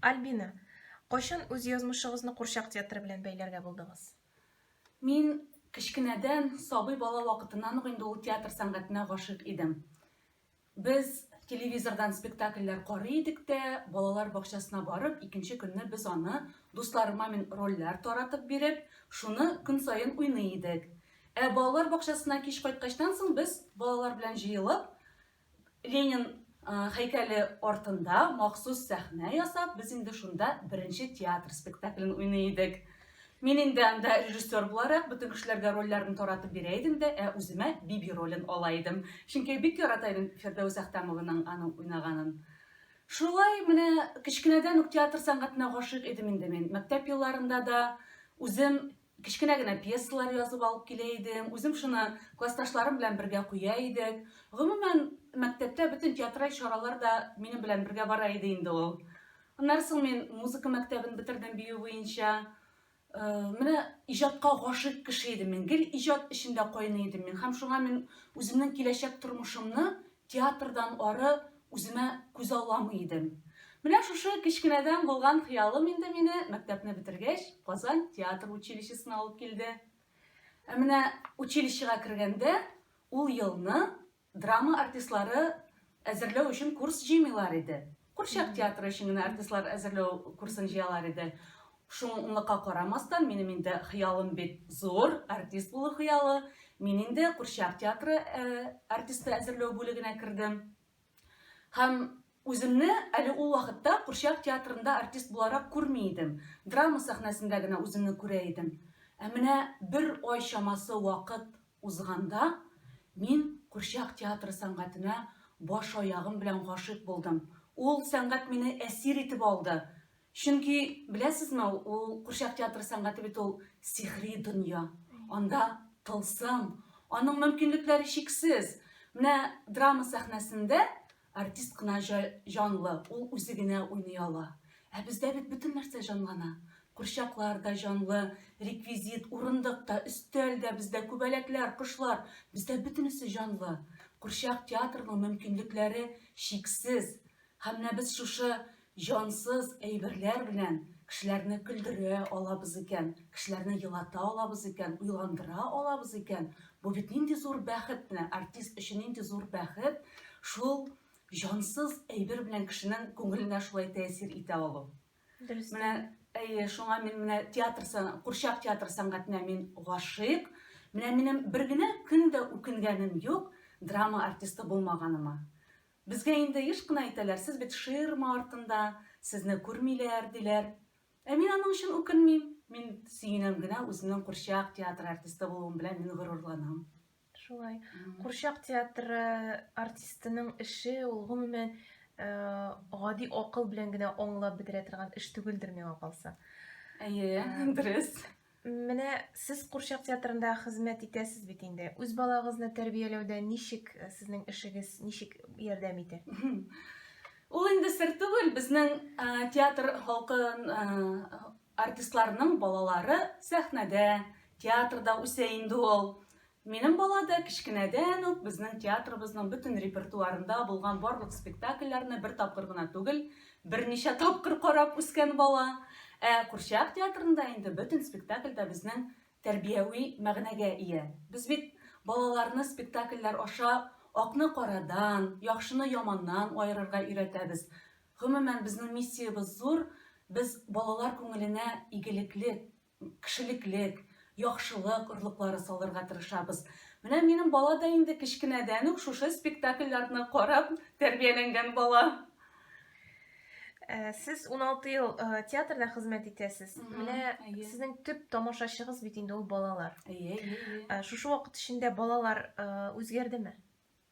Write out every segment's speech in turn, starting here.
Альбина, кайчан үз язмышыгызны курчак театры белән бәйләргә булдыгыз? Мин кечкенәдән, сабый бала вакытыннан ук инде ул театр сәнгатенә гашыйк идем. Без телевизордан спектакльләр карый идек тә, балалар бакчасына барып, икенче көнне без аны, дусларыма мин рольләр таратып биреп, шуны көн саен уйный идек. Ә балалар бакчасына кич кайткачтан соң без балалар белән җыелып, Ленин һәйкәле артында махсус сәхнә ясап, без инде шунда беренче театр спектаклен уйный идек. Мин инде анда режиссер буларак бөтен кешеләргә рольләрне таратып бирә идем дә, ә үземә Биби ролен ала идем. Чөнки бик ярата идем Фирдәүс Әхтәмованың аның уйнаганын. Шулай менә кечкенәдән үк театр сәнгатенә гашыйк идем инде мин. Мәктәп елларында да үзем Кечкенә генә пьесалар язып алып килә идем. Үзем шуны классташларым белән бергә куя идек. Гомумән, мәктәптә бөтен театраль чаралар да минем белән бергә бара иде инде ул. Аннары соң мин музыка мәктәбен бетердем бию буенча. Э, менә иҗатка гашыйк кеше идем мин. Гел иҗат эчендә кайный идем мин. Һәм шуңа мин үземнең киләчәк тормышымны Театрдан ары үземә күзалламый идем. Менә шушы кечкенәдән булган хыялым инде мине мәктәпне бетергәч Казан театр училищесына алып килде. Ә менә училищега кергәндә ул елны драма артистлары әзерләү өчен курс җыймыйлар иде. Курчак театры өчен генә артистлар әзерләү курсын җыялар иде. Шунлыкка карамастан, минем инде хыялым бит зур, артист булу хыялы. Мин инде Курчак театры артисты әзерләү бүлегенә кердем. Һәм үземне әле ул вакытта Курчак театрында артист буларак күрми идем. Драма сәхнәсендә генә үземне күрә идем. Ә менә бер ай чамасы вакыт Узганда мин курчак театры сәнгатенә баш-аягым белән гашыйк булдым. Ул сәнгать мине әсир итеп алды. Чөнки, беләсезме, ул курчак театры сәнгате бит ул сихри дөнья. Анда тылсым, аның мөмкинлекләре чиксез. Менә драма сәхнәсендә Артист кына җа җанлы, ул үзе генә уйный ала. Ә бездә бит бөтен нәрсә җанлана. Курчаклар да җанлы, реквизит, урындык та, өстәл дә, бездә күбәләкләр, кошлар, бездә бөтенесе җанлы. Курчак театрының мөмкинлекләре чиксез. Һәм менә без шушы Җансыз әйберләр белән кешеләрне көлдерә алабыз икән, кешеләрне елата алабыз икән, уйландыра алабыз икән, бу бит нинди зур бәхет, менә артист өчен нинди зур бәхет шул җансыз әйбер белән кешенең күңеленә шулай тәэсир итә алу. Дөрес. Менә әйе, шуңа мин менә театр курчак театр сәнгатенә мин гашыйк. Менә минем бер генә көн дә үкенгәнем юк драма артисты булмаганыма. Безгә инде еш кына әйтәләр, сез бит ширма артында, сезне күрмиләр, диләр. Ә мин аның өчен үкенмим. Мин сөенәм генә, үземнең курчак театры артисты булуым белән мин горурланам. Шулай. Курчак театры артистының эше ул гомумән э, гади акыл белән генә аңлап бетерә торган эш түгелдер миңа калса. Әйе, дөрес. Менә сез курчак театрында хезмәт итәсез бит инде. Үз балагызны тәрбияләүдә ничек э, сезнең эшегез ничек ярдәм итә? Ул инде сер түгел, безнең ә, театр халкын ә, артистларның балалары сәхнәдә, театрда үсә инде ул. Минем бала да кечкенәдән үк безнең театрыбызның бөтен репертуарында булган барлык спектакльләрне бер тапкыр гына түгел, берничә тапкыр карап үскән бала. Ә курчак театрында инде бөтен спектакль дә безнең тәрбияви мәгънәгә ия. Без бит балаларны спектакльләр аша акны карадан, яхшыны яманнан аерырга өйрәтәбез. Гомумән, безнең миссиябез зур, без балалар күңеленә игелекле кешелеклек, яхшылык орлыклары салырга тырышабыз. Менә минем бала да инде кечкенәдән үк шушы спектакльләрне карап тәрбияләнгән бала. Э, сез 16 ел э, театрда хезмәт итәсез. Менә сезнең төп тамашачыгыз бит инде ул балалар. Әйе, әйе. Э, шушы вакыт эчендә балалар үзгәрдеме?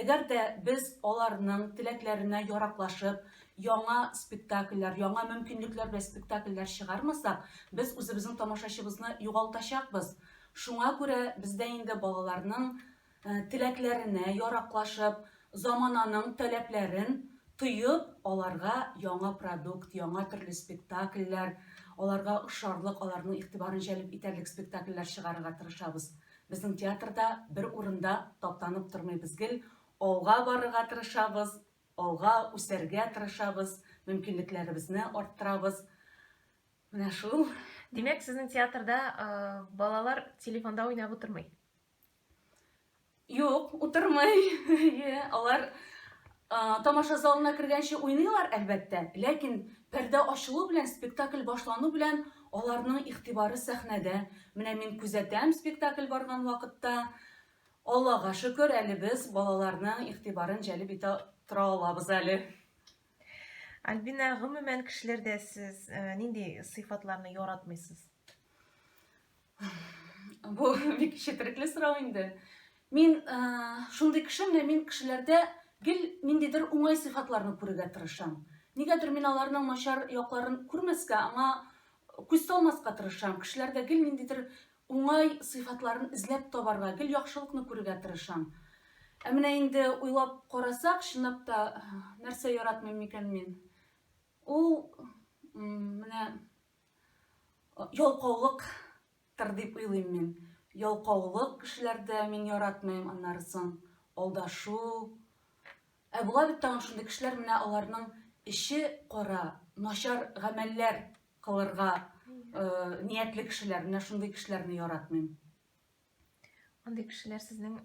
Әгәр дә без аларның теләкләренә яраклашып, яңа спектакльләр, яңа мөмкинлекләр белән спектакльләр чыгармасак, без үзебезнең тамашачыбызны югалтачакбыз. Шуңа күрә бездә инде балаларның теләкләренә яраклашып, замананың таләпләрен тоеп, аларга яңа продукт, яңа төрле спектакльләр, аларга ошарлык, аларның игътибарын җәлеп итәрлек спектакльләр чыгарырга тырышабыз. Безнең театрда бер урында таптанып тормыйбыз гел, алга барырга тырышабыз, алга үсәргә тырышабыз, мөмкинлекләребезне арттырабыз. Менә шул. Димәк, сезнең театрда балалар телефонда уйнап утырмый? Юк, утырмый. Алар Тамаша залына кергәнче уйныйлар, әлбәттә, ләкин пәрдә ачылу белән, спектакль башлану белән аларның игътибары сәхнәдә. Менә мин күзәтәм, спектакль барган вакытта, Аллага шөкер, әле без балаларның игътибарын җәлеп итә тора алабыз әле. Альбина, гомумән кешеләрдә сез нинди сыйфатларны яратмыйсыз? Бу бик четерекле сорау инде. Мин э, шундый кеше, менә мин кешеләрдә гел ниндидер уңай сыйфатларны күрергә тырышам. Нигәдер мин аларның начар якларын күрмәскә, аңа күз салмаска тырышам. Кешеләрдә гел ниндидер уңай сыйфатларын эзләп табарга, гел яхшылыкны күрергә тырышам. Ә менә инде уйлап карасак, чынлап та нәрсә яратмыйм микән мин? Ул менә Ялкаулык тыр дип уйлыйм мин. Ялкаулык кешеләрдә мин яратмыйм, аннары соң алдашу. Ә була бит тагын шундый кешеләр менә аларның эче кара, начар гамәлләр кылырга э, ниятле кешеләр, менә шундый кешеләрне яратмыйм. Андый кешеләр сезнең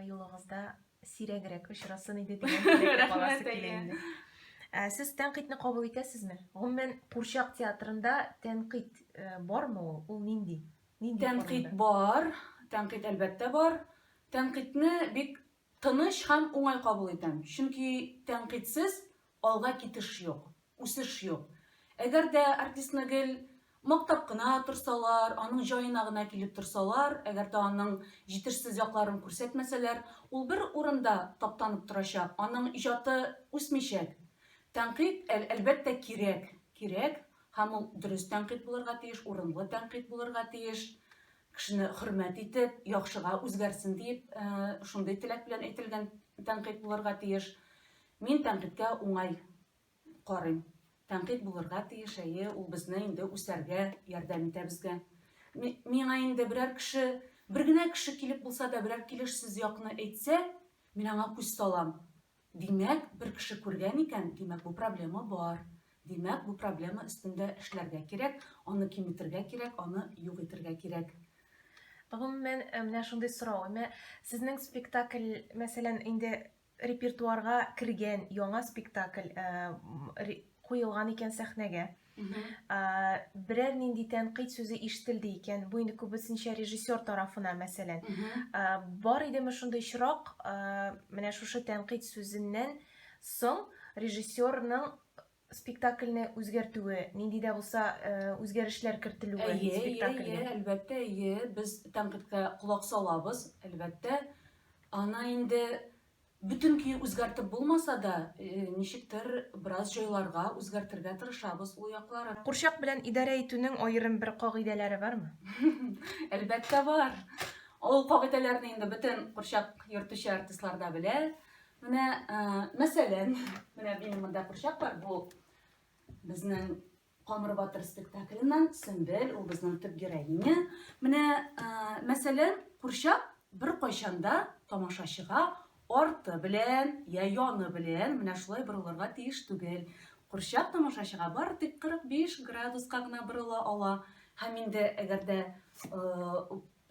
юлыгызда сирәгрәк очрасын иде дигән Рәхмәт әйе. Ә сез тәнкыйтьне кабул итәсезме? Гомумән, Курчак театрында тәнкыйть э, бармы ул? Ул нинди? Нинди Тәнкыйть бар, тәнкыйть әлбәттә бар. Тәнкыйтьне бик тыныч һәм уңай кабул итәм. Чөнки тәнкыйтьсез Алга китеш юк, үсеш юк. Әгәр дә артистны гел мактап кына торсалар, аның җаена гына килеп торсалар, әгәр дә аның җитешсез якларын күрсәтмәсәләр, ул бер урында таптанып торачак, аның иҗаты үсмичәк. Тәнкыйть, әлбәттә, кирәк, кирәк, һәм ул дөрес тәнкыйть булырга тиеш, урынлы тәнкыйть булырга тиеш. кешене хөрмәт итеп, яхшыга үзгәрсен диеп, э, шундый теләк белән әйтелгән тәнкыйть булырга тиеш. Мин тәнкыйтькә уңай карыйм. Тәнкыйть булырга тиеш, әйе, ул безне инде үсәргә ярдәм итә безгә. Миңа инде берәр кеше, бер генә кеше килеп булса да берәр килеш сүз якны әйтсә, мин аңа күз салам. Димәк, бер кеше күргән икән, димәк, бу проблема бар. Димәк, бу проблема өстендә эшләргә кирәк, аны киметергә кирәк, аны юк итергә кирәк. Гомумән, э, менә шундый сорау. Менә сезнең спектакль, мәсәлән, инде репертуарга кергән яңа спектакль э, куелган икән сәхнәгә. берәр нинди тәнкыйть сүзе ишетелде икән бу инде күбесенчә режиссер тарафына мәсәлән бар идеме шундый очрак менә шушы тәнкыйть сүзеннән соң режиссерның спектакльне үзгәртүе нинди дә булса үзгәрешләр кертелүе спектакльгә әлбәттә әйе без тәнкыйтькә колак салабыз әлбәттә ана инде Бөтен көе үзгәртеп булмаса да, ничектер бераз җайларга, үзгәртергә тырышабыз ул якларын. Курчак белән идарә итүнең аерым бер кагыйдәләре бармы? Әлбәттә бар. Ул кагыйдәләрне инде бөтен курчак йөртүче артистлар да белә. Менә, мәсәлән, менә минем монда курчак бар, бу безнең Камыр батыр спектакленнан Сөмбел ул безнең төп героиня. Менә, мәсәлән, курчак бер кайчанда тамашачыга арты белән, я яны белән менә шулай борылырга тиеш түгел. Курчак тамашачыга бары тик 45 градуска гына борыла ала. Һәм инде әгәр дә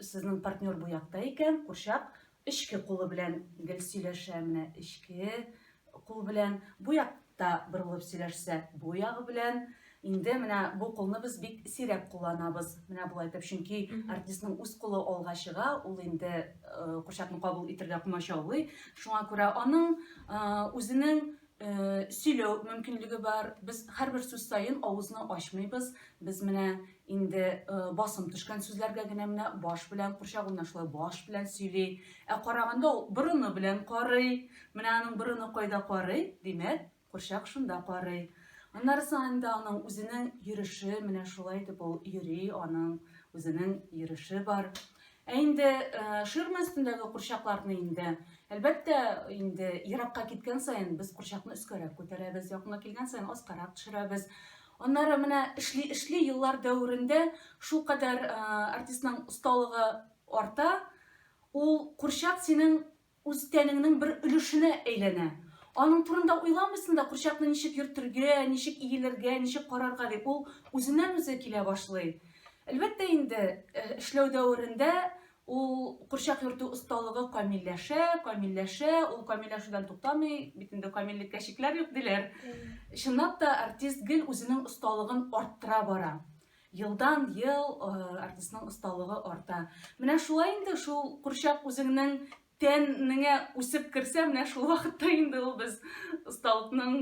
Сезнең партнер бу якта икән, курчак эчке кулы белән гел сөйләшә, менә эчке кул белән. Бу якта борылып сөйләшсә, бу ягы белән. Инде менә бу кулны без бик сирәк кулланабыз. Менә болай итеп, чөнки артистның үз кулы алга чыга, ул инде э, курчакны кабул итергә комачаулый. Шуңа күрә аның э, үзенең сөйләү мөмкинлеге бар. Без һәрбер сүз саен авызны ачмыйбыз. Без менә инде басым төшкән сүзләргә генә менә баш белән курчак уйна шулай баш белән сөйли. Ә караганда ул борыны белән карый. Менә аның борыны кайда карый? Димәк, курчак шунда карый. Аннарысы инде аның үзенең йөреше, менә шулай итеп ул йөри, аның үзенең йөреше бар. Ә инде ширма өстендәге курчакларны инде, әлбәттә, инде еракка киткән саен без курчакны өскәрәк күтәрәбез, якынга килгән саен аскарак төшерәбез. Аннары менә эшли-эшли еллар дәверендә шул кадәр артистның осталыгы арта, ул курчак синең үз тәнеңнең бер өлешенә әйләнә. Аның турында уйламыйсың да, курчакны ничек йөртергә, ничек иелергә, ничек карарга дип, ул үзеннән-үзе килә башлый. Әлбәттә инде, э, эшләү дәверендә ул курчак йөртү осталыгы камилләшә, камилләшә, ул камилләшүдән туктамый, бит инде камиллеккә чикләр юк диләр. Чынлап та, артист гел үзенең осталыгын арттыра бара. Елдан ел артистның осталыгы арта. Менә шулай инде шул курчак үзеңнең тәнеңә үсеп керсә, менә шул вакытта инде ул без осталыкның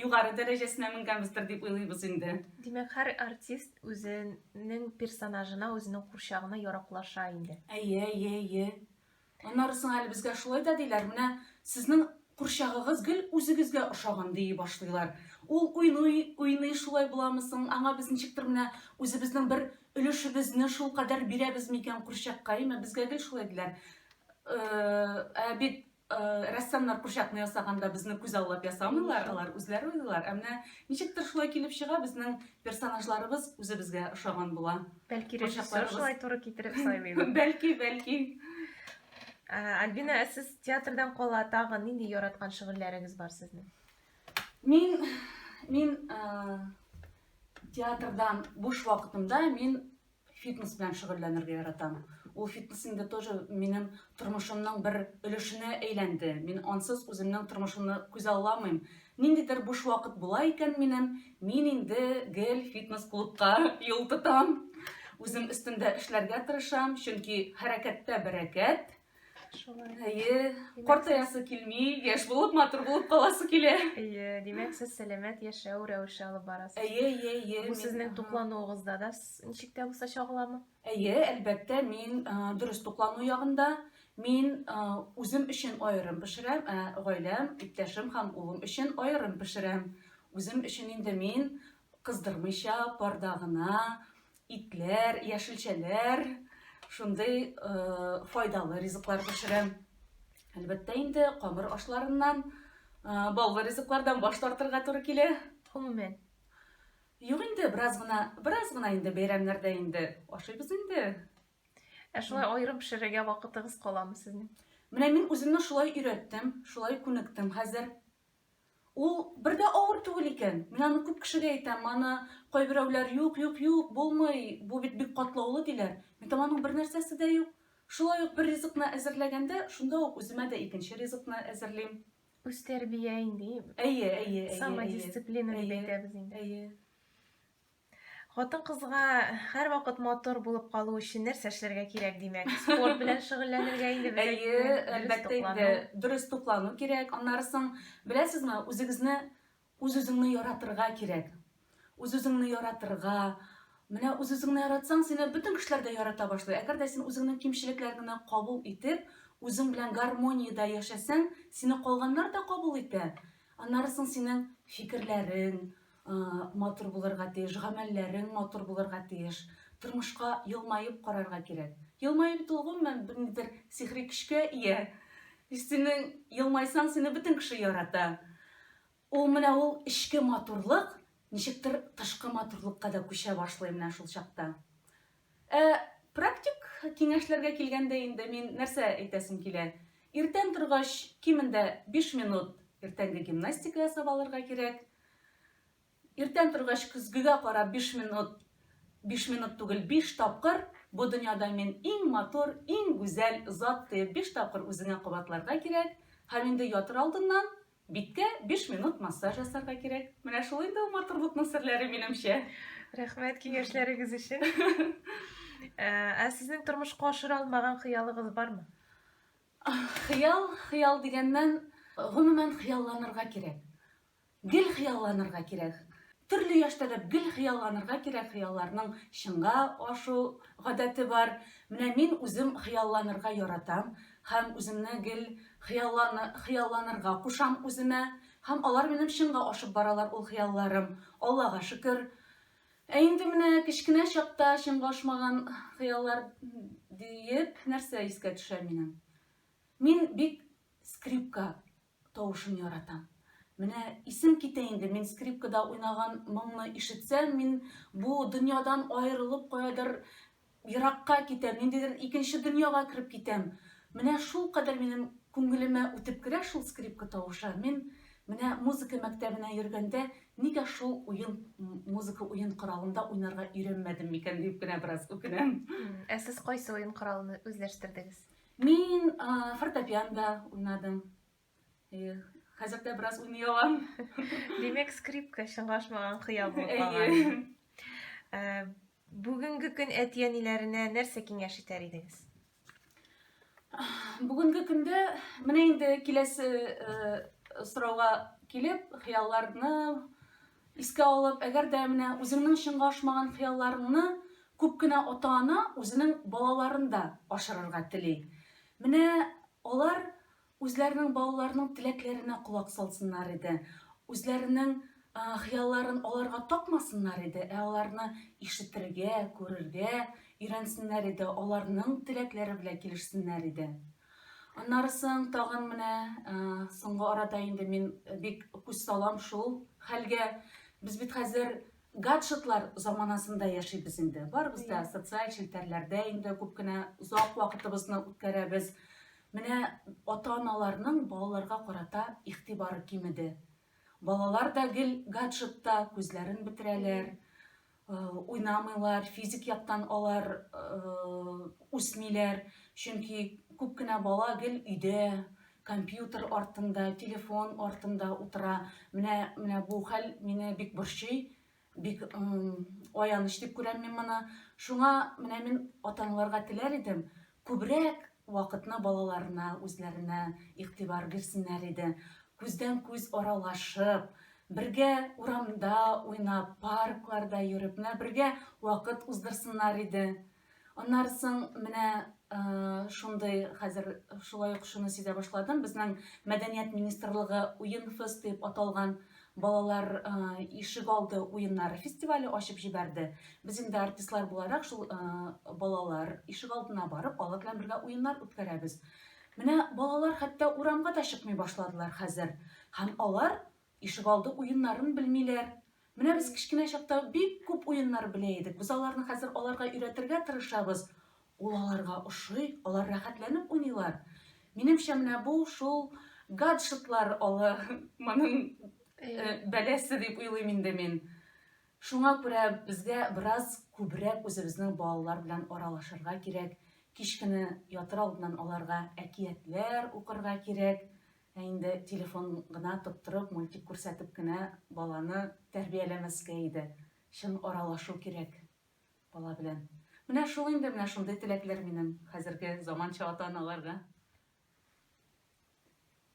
югары дәрәҗәсенә менгәнбездер дип уйлыйбыз инде. Димәк, һәр артист үзенең персонажына, үзенең курчагына яраклаша инде. Әйе, әйе, әйе. Аннары соң әле безгә шулай да диләр, менә сезнең курчагыгыз гел үзегезгә ошаган, дии башлыйлар. Ул уйный, уйный, шулай буламы соң, аңа без ничектер менә үзебезнең бер өлешебезне шулкадәр бирәбез микән курчакка, әйме, безгә гел шулай диләр. Ә бит рәссамнар курчакны ясаганда безне күзаллап ясамыйлар, алар үзләре уйлыйлар. Ә менә ничектер шулай килеп чыга, безнең персонажларыбыз үзебезгә ошаган була. Бәлки режиссер шулай туры китереп сайлыйдыр. Бәлки, бәлки. Альбина, ә сез театрдан кала тагы нинди яраткан шөгыльләрегез бар сезнең? Мин мин театрдан буш вакытымда мин фитнес белән шөгыльләнергә яратам. Ул фитнес инде тоже минем тормышымның бер өлешенә әйләнде. Мин ансыз үземнең тормышымны күзалламыйм. Ниндидер буш вакыт була икән минем, мин инде гел фитнес-клубка юл тотам. Үзем өстендә эшләргә тырышам, чөнки хәрәкәттә бәрәкәт. Шулай. Әйе, картаясы килми, яшь булып, матур булып каласы килә. Әйе, димәк, сез сәламәт яшәү рәвеше алып барасыз. Әйе, әйе, әйе. Бу сезнең туклануыгызда да ничек тә булса чагыламы? Әйе, әлбәттә, мин дөрес туклану ягында, мин үзем өчен аерым пешерәм, ә гаиләм, иптәшем һәм улым өчен аерым пешерәм. Үзем өчен инде мин кыздырмыйча, парда гына, итләр, яшелчәләр, шундый файдалы ризыклар пешерәм. Әлбәттә инде камыр ашларыннан, баллы ризыклардан баш тартырга туры килә. Гомумән, Юк инде, бераз гына, бераз гына инде бәйрәмнәрдә инде ашыйбыз инде. Ә шулай аерым пешерергә вакытыгыз каламы сезнең? Менә мин үземне шулай өйрәттем, шулай күнектем хәзер. Ул бер дә авыр түгел икән. Мин аны күп кешегә әйтәм, аны кайберәүләр юк, юк, юк, булмый, бу бит бик катлаулы диләр. Мин аның бер нәрсәсе дә юк. Шулай ук бер ризыкны әзерләгәндә, шунда ук үземә дә икенче ризыкны әзерлим. Үз тәрбия инде. Әйе, әйе, әйе. Самодисциплина дип әйтәбез инде. Әйе. Хатын-кызга һәрвакыт матур булып калу өчен нәрсә эшләргә кирәк, димәк? Спорт белән шөгыльләнергә инде без Әйе, әлбәттә инде дөрес туклану кирәк. Аннары соң, беләсезме, үзегезне Үз-үзеңне яратырга кирәк. Үз-үзеңне яратырга. Менә үз-үзеңне яратсаң, сине бөтен кешеләр дә ярата башлый. Әгәр дә син үзеңнең кимчелекләреңне кабул итеп, үзең белән гармониядә яшәсәң, сине калганнар да кабул итә. Аннары соң синең фикерләрең матур булырга тиеш, гамәлләрең матур булырга тиеш. Тормышка елмаеп карарга кирәк. Елмаеп бит ул гомумән бернидер сихри көчкә ия. Синең елмайсаң, сине бөтен кеше ярата. Ул менә ул эчке матурлык ничектер тышкы матурлыкка да күчә башлый менә шул чакта. Ә практик киңәшләргә килгәндә инде мин нәрсә әйтәсем килә? Иртән торгач, кимендә 5 минут иртәнге гимнастика ясап алырга кирәк. Иртән торгач көзгегә карап 5 минут, 5 минут түгел 5 тапкыр бу дөньяда мин иң матур, иң гүзәл зат дип 5 тапкыр үзеңә кабатларга кирәк. Һәм инде ятыр алдыннан Биткә биш минут массаж ясарга кирәк. Менә шул инде ул матурлыкның серләре, минемчә. Рәхмәт киңәшләрегез өчен. Ә ә сезнең тормышка ашыра алмаган хыялыгыз бармы? Хыял, хыял дигәннән, гомумән хыялланырга кирәк. Гел хыялланырга кирәк. Төрле яшьтә дә гел хыялланырга кирәк, хыялларның чынга ашу гадәте бар. Менә мин үзем хыялланырга яратам. Һәм үземне гел хыялланы, хыялланырга кушам үземә. Һәм алар минем чынга ашып баралар ул хыялларым. Аллага шөкер. Ә инде менә кечкенә чакта чынга ашмаган хыяллар диеп нәрсә искә төшә минем? Мин бик скрипка Тавышын яратам. Менә исем китә инде, мин скрипкада уйнаган моңны ишетсәм, мин бу дөньядан аерылып каядыр еракка китәм, ниндидер икенче дөньяга кереп китәм. Менә шулкадәр минем күңелемә үтеп керә шул скрипка тавышы. Мин менә музыка мәктәбенә йөргәндә нигә шул уен, музыка уен коралында уйнарга өйрәнмәдем микән дип кенә бераз үкенәм. Ә сез кайсы уен коралын үзләштердегез? Мин фортепиан да уйнадым. Хәзер дә бераз уйный алам. Димәк, скрипка чыңлашмаган хыял булып калган. Ә, бүгенге көн әти-әниләренә нәрсә киңәш итәр идегез? Бүгенге көндә менә инде киләсе сорауга килеп, хыялларны Искә алып, әгәр дә менә үзеңнең чынга ашмаган хыялларыңны күп кенә ата-ана үзенең балаларын да ашырырга тели. Менә алар үзләренең балаларының теләкләренә колак салсыннар иде, үзләренең хыялларын аларга такмасыннар иде, ә аларны ишетергә, күрергә өйрәнсеннәр иде, аларның теләкләре белән килешсеннәр иде. Аннарысын тагын менә соңгы арада инде мин бик күз салам шул хәлгә. Без бит хәзер гаджетлар заманасында яшибез инде. Барыбыз да социаль челтәрләрдә инде күп кенә озак вакытыбызны үткәрәбез. Менә ата-аналарның балаларга карата игътибары кимеде. Балалар да гел гаджетта күзләрен бетерәләр. уйнамыйлар, физик яктан алар үсмиләр, чөнки күп кенә бала гел өйдә, компьютер артында, телефон артында утыра. Менә менә бу хәл мине бик борчый, бик аяныч дип күрәм мин моны. Шуңа менә мин ата-аналарга теләр идем, Күбрәк вакытны балаларына, үзләренә игътибар бирсеннәр иде. Күздән-күз аралашып, бергә урамда уйнап, паркларда йөреп, менә бергә вакыт уздырсыннар иде. Аннары соң менә шундый хәзер шулай ук шуны сизә башладым. Безнең мәдәният министрлыгы Уен фест дип аталган Балалар ишегалды уеннары фестивале ачып җибәрде. Без инде артистлар буларак шул балалар ишегалдына барып, алар белән бергә уеннар үткәрәбез. Менә балалар хәтта урамга да чыкмый башладылар хәзер. Һәм алар ишегалды уеннарын белмиләр. Менә без кечкенә чакта бик күп уеннар белә идек. Без аларны хәзер аларга өйрәтергә тырышабыз. Ул аларга ошый, алар рәхәтләнеп уйныйлар. Минемчә, менә бу шул гаджетлар алы моның э, бәләсе дип уйлыйм инде мин. Шуңа күрә безгә бераз күбрәк үзебезнең балалар белән аралашырга кирәк. Кич көне ятыр алдыннан аларга әкиятләр укырга кирәк. Ә инде телефон гына тоттырып, мультик күрсәтеп кенә баланы тәрбияләмәскә иде. Чын аралашу кирәк. Бала белән. Менә шул инде, менә шундый теләкләр минем хәзерге заманча ата-аналарга.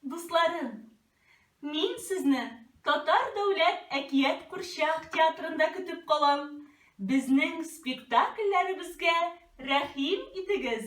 Дусларым, мин сезне Татар дәүләт әкият курчак театрында көтеп калам. Безнең спектакльләребезгә рәхим итегез!